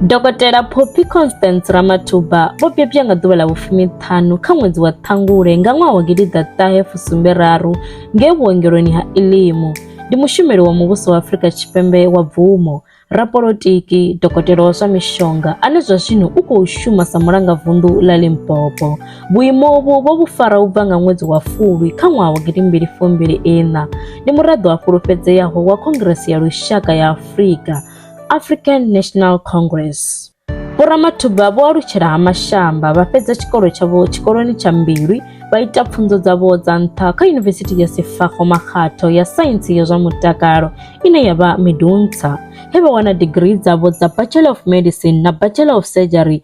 Dokotela Poppy Constance Ramathuba vho bebwa nga ḓuvha ḽa vhufumi ṱhanu kha ṅwedzi wa Ṱhangule nga ṅwaha wa gidi ḓa ṱahe fusumbe raru ngei vhuongeloni ha Ilimu. Ndi mushumeli wa muvhuso wa Afrika Tshipembe wa bvumo, rapolotiki, dokotela wa zwa mishonga ane zwa zwino u khou shuma sa mulangavunḓu ḽa Limpopo. Vhuimo uvhu vho vhu fara u bva nga ṅwedzi wa Fulwi kha ṅwaha wa gidi mbili fumbili iṋa. Ndi muraḓo a fhulufhedzeaho wa Khongrese ya Lushaka ya Afrika, African National Congress. Vho Ramathuba vho alutshela ha Mashamba, vha fhedza tshikolo tshavho tshikoloni tsha Mbilwi, vha ita pfunzo dzavho dza nṱha kha Yunivesithi ya Sefako Makgatho ya Saintsi ya zwa Mutakalo ine ya vha Medunsa, he vha wana digirii dzavho dza Bachelor of Medicine na Bachelor of Surgery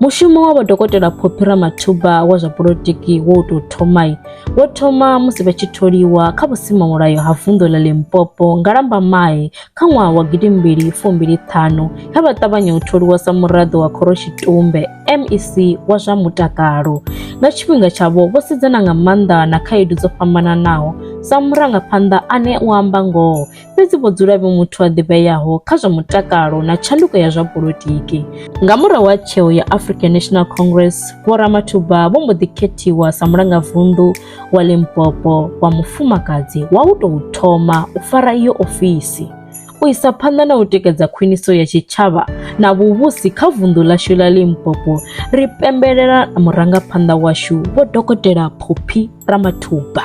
Mushumo wa vhodokotela Phophi Ramathuba wa zwa polotiki wo tou thoma wo thoma musi vha tshi tholiwa kha vhusimamulayo ha vunḓu ḽa Limpopo nga Lambamai kha ṅwaha wa gidi mbili fumbili ṱhanu he vha ṱavhanya u tholiwa sa muraḓo wa Khoroshitumbe MEC wa zwa mutakalo. Nga tshifhinga tshavho vho sedzana nga maanḓa na khaedu dzo fhambananaho sa murangaphanḓa ane u amba ngoho fhedzi vho dzula vhe muthu a ḓivheaho kha zwa mutakalo na tshanduko ya zwa politiki. Nga murahu ha tsheo ya African National Congress, Vho Ramathuba vho mbo ḓi khethiwa sa mulangavunḓu wa Limpopo wa mufumakadzi wa u tou thoma u fara iyo ofisi u isa phanḓa na u tikedza khwiniso ya tshitshavha na vhuvhusi kha vunḓu ḽashu ḽa Limpopo ri pembelela murangaphanḓa washu vho dokotela Phophi Ramathuba.